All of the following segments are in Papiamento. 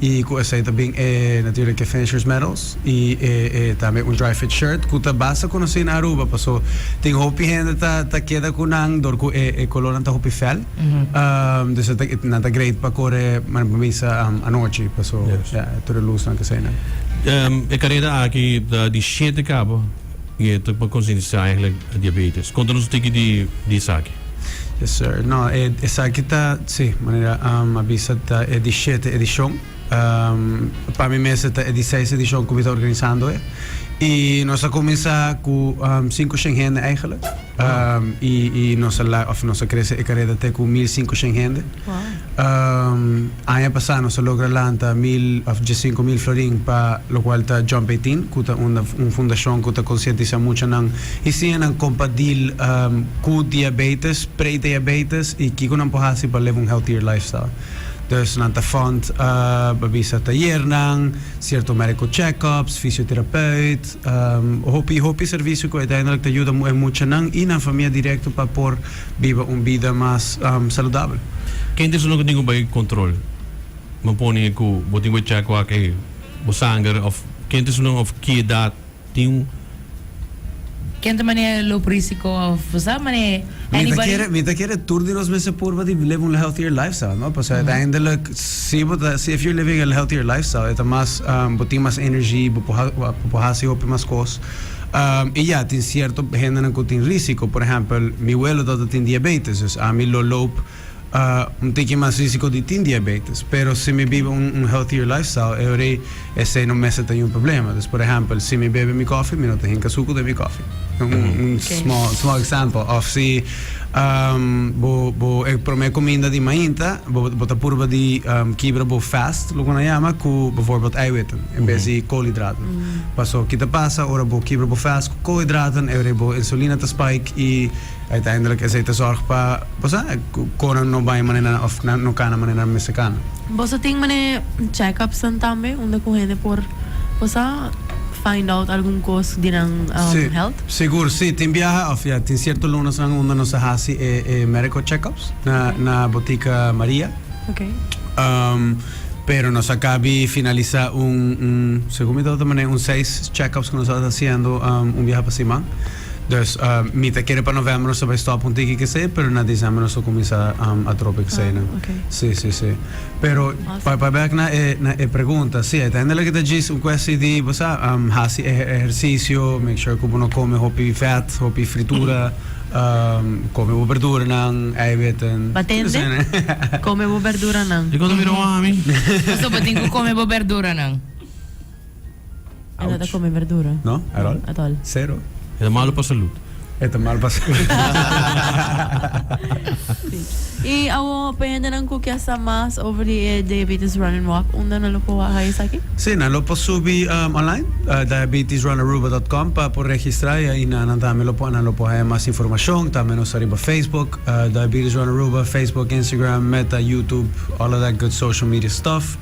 Y cu esey ta bin e natuurlijk e finishers medals y e e tambe un dry fit shirt cu ta basta conoci na Aruba paso tin hopi hende ta ta keda cu nan dor cu e e colornan ta hopi fel dus e ta nan ta great pa core manera pa mi sa anochi paso ya tur e luznan cu eseynan. E carera aki ta di shete cabo. Y e ta pa concientisá eigenlijk a diabetes. Conta nos un tiki di di esaki. Yes sir. No, e esaki ta, si, manera am a bisa ta e di shete edicion. Am, pa mi mes e ta e di seis edicion cu mi ta organisando e. Y nos a cuminsa cu am cinco shen hende eigenlijk. Am, y, y nos a la, of nos a crece e careda te cu mil cinco shen hende. Aña pasá nos a logra lanta mil òf djisinku mil florin pa lokual ta Jump Eighteen, ku ta un un fundashon ku ta konsientisá muchanan i siña nan kompa dil ku diabeites, pre-diabeites i kiko nan por hasi pa leba un healthier lifestyle. Dus nan ta fund, bo a bisa, tayernan, sierto médiko chèk-ups, fisioterapeut, hopi hopi servisio ku uiteindelik ta yuda e muchanan i nan famia direkto pa por. Biba un bida mas saludabel. Kende su no tin ku bai kontrol? Bo pone ku bo tin ku e chèk ku aki bo sanger òf kende su no òf ki edat tin un. Kende manera e lop risiko òf bo sa manera anybody. Mi ta kere tur di nos mester purba di live un healthier lifestyle no pasobra uiteindelijk si bo ta si if you're living a healthier lifestyle e ta mas bo tin mas energy bo por hasi hopi mas kos. I ya, tin sierto hendenan ku tin risiko. Por ehèmpel, mi welo tabata tin diabetes, dus ami lo loop un tiki mas risiko di tin diabetes. Pero si mi biba un healthier lifestyle, e hori esei no mester ta yu un problema. Dus por ehèmpel, si mi bebe mi kòfi, mi no ta hinka suku den mi kòfi. Un small example. Òf si. Bo bo e prome kominda di mainta bo bo ta purba di kibra bo fast loke bo na yama ku befòrbild eiwitten en bes di koolhidraten paso ki ta pasa ora bo kibra bo fast ku koolhidraten e rei bo insulina ta spike i uiteindelik esei ta sòrg pa bo sa ku konan no bai manera òf nan no kana manera nan mester kana. Boso tin mane checkups-nan tambe unda ku hende por bo sa find out algun kos di nan health? Sigur si, tin biaha of ya tin cierto lunasnan unda nos a haci e e medical checkups na na Botica Maria. Pero nos acabi finalisa un un segun mi doter mane un seis checkups cu nos ta haciendo un biaha pa siman. Dus mi ta kere pa november nos ta bay stop un tiki cu esey pero na december nos ta cuminsa atrobe cu eseynan. Si si si. Pero pa pa bek na e na e pregunta si uiteindelijk ta djis un kwesti di bo sa hasi e ehersisio make sure ku bo no kome hopi fèt hopi fritura kome bo berduranan eiwitten Bo a tende? Kome bo berduranan. Dikos a mira wak ami? Pasobra tin ku kome bo berduranan. Ela ta come verdura? No, at all. At all. Cero. E ta malo pa salud. E ta malo pa salud. Y awor pa e hendenan cu kier sa mas over di e Diabetes Run and Walk, unda nan lo por waha esaki? Sí, nan lo por subi online, diabetesrunaruba.com, pa por registra y ahi nan tambe lo por, nan lo por haya mas informacion. Tambe nos ta riba Facebook, Diabetes Run Aruba, Facebook, Instagram, Meta, YouTube, all of that good social media stuff.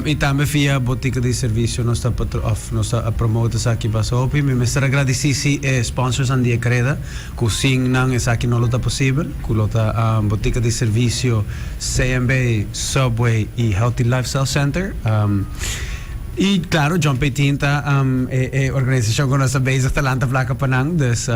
y tambe via bo ticket di servicio nos ta patro of nos ta promote esaki bas hopi mi mester a gradeci si e sponsors nan di e creda cu sin nan esaki no lo ta posibel cu lo ta bo ticket di servicio CMB, Subway y Healthy Lifestyle Center. Y claro John P. Tin ta e e organizacion cu nos ta bezig ta lanta placa pa nan, dus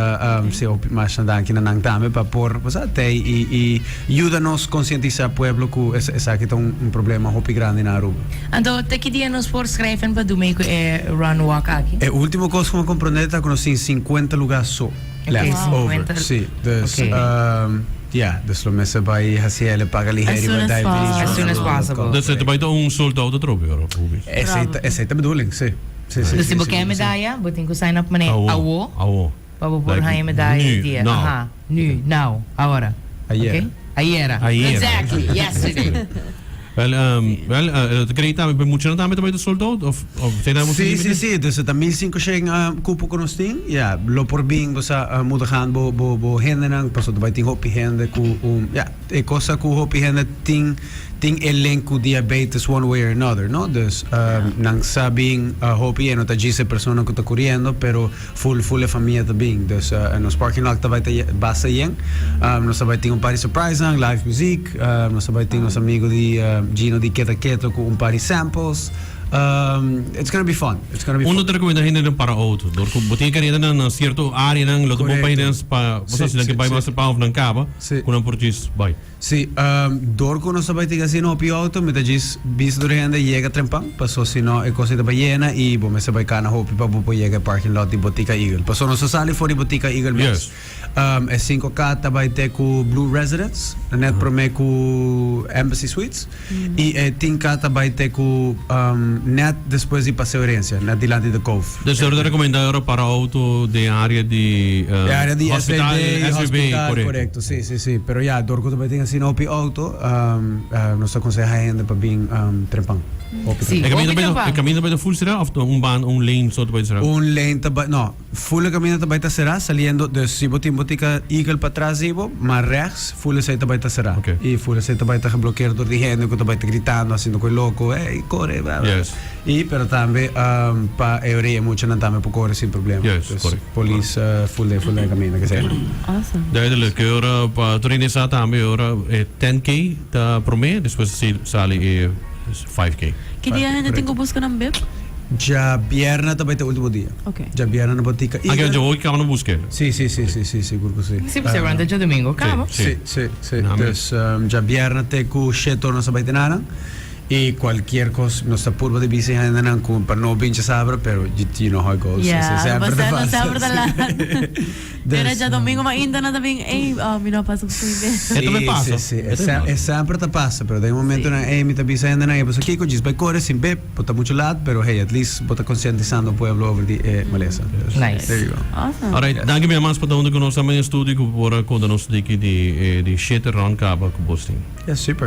si hopi mas na danki na nan tambe pa por bo sa tey y y yuda nos conscientisa pueblo cu esaki ta un problema hopi grandi na Aruba. Anto, te ki dia nos por schrijven pa dumey cu e run walk aki? E ultimo cos cu me comprende ta cu nos tin cincuenta lugar so left over, si, dus. Ya, dus lo mester bai hcl paga lihe riba diabetes as soon as possible. Dus e ta bai ta un soldao ta trobe ora hopi. Esei ta bedoeling si. Dus si bo ken medaya bo tin ku sign up manera awo pa bo por haña medaya e dia aha nu now ahora ok ayera exactly yesterday. Wel, um, wel, uh, el creí también, pero mucho no también te puede sold out, of, of, te damos Sí, sí, sí. Entonces, ta 1500 uh, cupo que nos tin. Ja, lo por bin, bo sa, uh, moeder gaan bo, bo, bo hende nan, paso te bai tin hopi hende ku, um, ja, e cosa ku hopi hende tin, tin e link ku diabetes one way or another, no? Dus, um, nan sa bin, uh, hopi e no ta djise persona ku ta kuriendo, pero Full full e famia ta bin. Dus nos parking lot ta bai ta basta yen. Nos ta bai tin un pari surprise nan, live muziek. Nos ta bai tin nos amigo di Gino di Keto Keto cu un pari samples. It's gonna be fun. It's gonna be fun. Bo no ta recomenda hende nan para auto dor cu bo tin e careta nan na cierto area nan lo ta bon pa hendenan pa bo sa si nan ke bai mas cepao of nan caba cu nan por djis bai. Si, dor ku nos ta bai tin asina hopi outo mi ta djis bisa tur e hende a yega trempan paso si no e kos ei ta bai yena i bo mester bai kana hopi pa bo por yega e parking lot di Botica Eagle. Paso nos a sali for di Botica Eagle mes e sinku kat ta bai te ku Blue Residence, net prome ku Embassy Suites. Y e tinka ta bay te cu net despues di paseo herencia, net dilanti de Cove. Dus dor ta recomenda ora para auto den area di hospital, SVB, corecto. Si, si, si. Pero ya, dor cu ta bay tin asina hopi auto, nos ta conseha e hende pa bin trempan. Hopi trempan. E caminda ta bay ta full cerá of un banda, un lane so ta bay ta cerá? Un lane ta bay, no. Fule camino ta bay ta cera saliendo dus si bo tin bo tica eagle pa tras di bo mar rechts fule esey ta bay ta cera y fule esey ta bay ta geblokero door di hende cu ta bay ta gritando haciendo cu e loco ey core bla bla y pero tambe pa e orea e muchanan tambe por core sin problema dus police fule fule den camino ke esey nan. Duidelijk e ora pa Trinidad tambe e ora e ten key ta prome despues esey sali e. Ki dia hende tin ku buska nan beb? Djabierna ta bai ta ultimo dia. Djabierna no por tika iga. Si, si, si, si, si, sigur ku si. Si, pasobra ante djadumingu kaba. Si, si, si. Dus djabierna te ku shetor nos ta bai te nanan i kualkier kos nos ta purba di bisa e hendenan ku pa no bincha sabra pero you know how it goes. Ya, no basta, no sabra ta laat. Era dja domingo ma ainda nan ta bin ey mi no a pasa cu sui mero. E ta bay pasa. Sí, sí, sí. E semper ta pasa, pero den momentonan ey mi ta bisa hendenan ey pasobra kico djis bay core sin beb? Bo ta mucho lat, pero hey, at least bo ta conscientisando pueblo over di e malesa. There Nice. you go. Awesome. Alright, danki mia mas pa ta hunde cu nos, tambe en estudio cu bo por a conta nos tiki di e di shete round caba cu bos tin. Ya, super.